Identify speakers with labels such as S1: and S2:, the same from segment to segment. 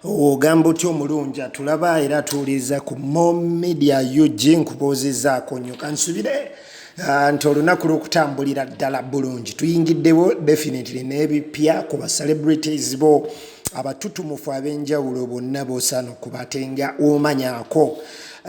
S1: ogamba otya omulungi atulaba era atuwuliriza ku momedia ug nkubuuzizaako nnyo kansubire ah, nti olunaku lwokutambulira ddala bulungi tuyingiddewo definitely n'ebipya ku ba celebrities bo abatutumufu ab'enjawulo bonna bosaana okuba ate nga omanyako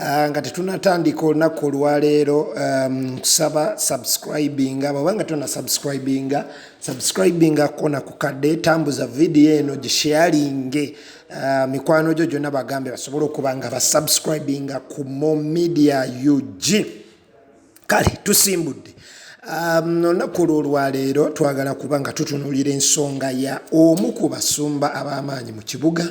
S1: Ah, nga tetunatandika olunaku olwaleero um, kusaba subscribinga bwabanga tuna subscribinga subscribingako na kukadde tambuza vidiyo eno gisharinge uh, mikwano gyo gyonna bagambe basobole okuba nga basubscribinga ku mo media ug kale tusimbudde um, olunaku um, olwolwaleero twagala kuba nga tutunulira ensonga ya omu ku basumba ab'amaanyi mu kibuga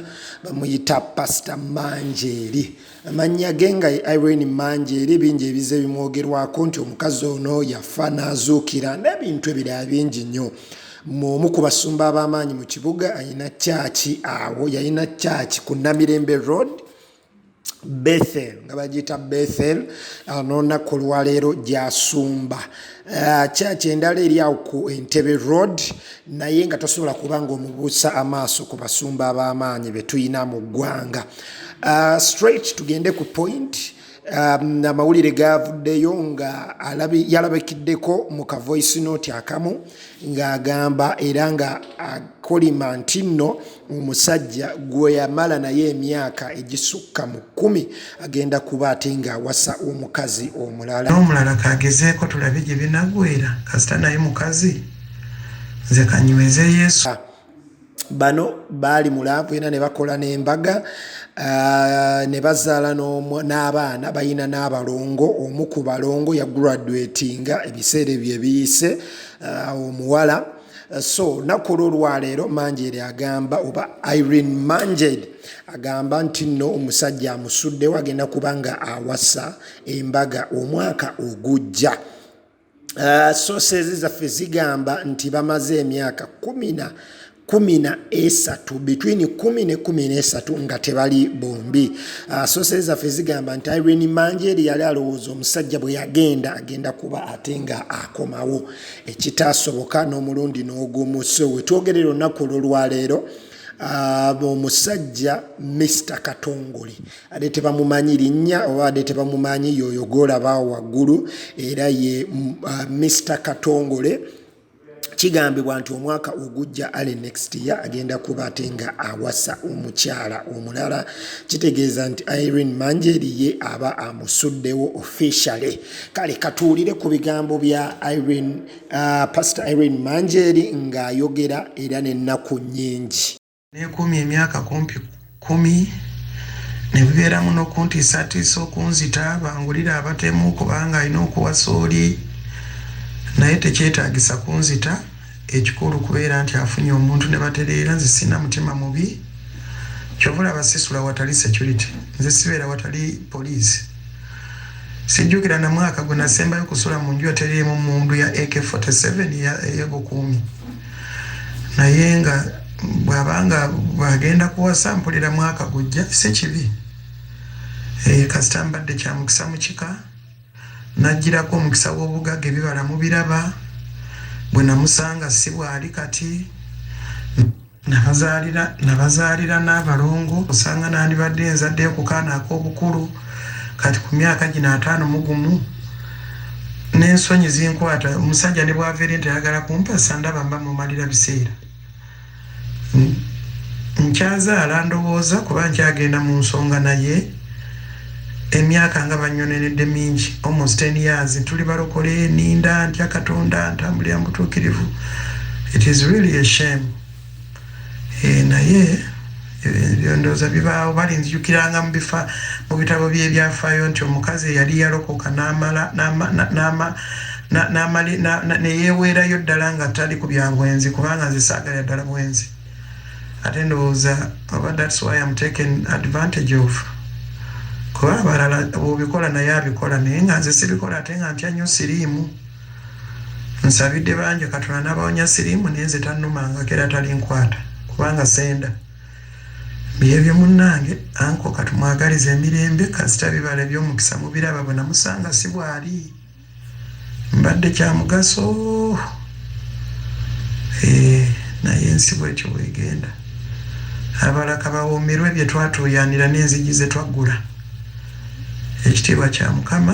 S1: bamuyita pasita manjeeri Amannya ge nga ye Irene Mangi eri bingi ebize bimwogerwako nti omukazi ono yafa n'azuukira n'ebintu ebirala bingi nnyo. Omu ku basumba ab'amaanyi mu kibuga alina kyaki awo yalina kyaki ku Namirembe Road Bethel nga bagiyita Bethel anoonnaku olwaleero gy'asumba. Eh, church endala eri awo ku entebe road naye nga tosobola kuba nga omubuusa amaaso ku basumba ab'amaanyi be tulina mu ggwanga eh, straight tugende ku point Um, amawulire gavuddeyo nga yalabikiddeko mu kavoice note akamu ng'agamba era nga akolima nti nno omusajja gwe yamala naye emyaka egisukka mu kkumi agenda kuba ate ng'awasa omukazi omulala n'omulala kagezeeko
S2: tulabe gye binagwera kasita naye mukazi nze kanyweze yesu ah, bano
S1: baali mu laavu ena ne bakola n'embaga ah, ne bazaala n'abaana balina n'abalongo omu ku balongo yagraduatinga ebiseera ebyo ebiyise ah, omuwala Uh, so naku olwolwaleero manjeri agamba oba irene manjeri agamba nti nno omusajja amusuddewo agenda kuba nga awasa embaga omwaka ogujja uh, sosezi zaffe zigamba nti bamaze emyaka kumina kumi na esatu between kumi ne kumi nesatu nga tebali bombi ah, sosere zaffe zigamba nti irene manjeri yali alowooza omusajja bwe yagenda agenda kuba ate nga akomawo ekitaasoboka n'omulundi n'ogumu so wetwogerera olunaku olwolwaleero omusajja Mister Katongole ade tebamumanyi linnya oba ade tebamumanyi yoyo golaba waggulu era ye uh, Mister Katongole kigambibwa nti omwaka ogujja ale next year agenda kuba ate nga awasa omukyala omulala kitegeeza nti irene manjeri ye aba amusuddewo officially kale katuwulire ku bigambo bya irene uh, pastor irene manjeri ng'ayogera era n'ennaku nnyingi nekumi emyaka
S2: kumpi kumi ne bibeeramu n'okuntiisatiisa okunzita bangulire abatemu kubanga alina okuwasa oli naye tekyetaagisa kunzita Ekikulu kubera nti afunye omuntu ne batereera nze sirina mutima mubi kyova olaba sisula watali security nze sibeera watali police sijjukira na mwaka gwe nasembayo kusula mu nju yateriimu mundu ya ak 47 eyobukuumi naye nga bwaba nga bwagenda kuwasa mpulira mwaka gujja si kibi eh, kasita mbadde kyamukisa mu kika Najjirako omukisa w'obugagga ebibala mubiraba, bwe namusanga si bw'ali kati. Nabazaalira nabazaalira n'abalongo osanga nandibadde nzaddeyo ku kaana ak'obukulu kati ku myaka gino ataano mu gumu n'ensonyi zinkwata omusajja ne bw'ava eri nti ayagala kumpasa ndaba mba mumalira biseera. nkyazaala ndowooza kuba nkyagenda mu nsonga naye emyaka nga banyonenedde mingi almost ten years tuli balokole ninda ntya katonda ntambulira mubutuukirivu it is really a shame e, naye Ebyo ndowooza bibaawo. Balinzijukiranga mu bifa, mu bitabo by'ebyafaayo nti omukazi eyali yalokoka n'amala, n'ama, na, n'ama, na, n'amali, na, na, ne yeeweerayo ddala nga tali ku bya bwenzi, kubanga nze saagalira ddala bwenzi. Ate ndowooza oba that's why I'm taken advantage of. Kuba abalala bw'obikola naye abikola, naye nga nze sibikola ate nga ntya nnyo siriimu. Nsabidde bangi katonda nabawonya sirimu naye nze tanumangako era talinkwata kubanga senda byebyo munange anko katumwagaliza emirembe kasita bibala ebyomukisa mubiraba bwe namusanga si bwali mbadde kyamugaso eh, naye ensi bwetyo bwegenda abalaka bawoomerwe bye twatuuyanira n'enzigi ze twaggula ekitiibwa kya mukama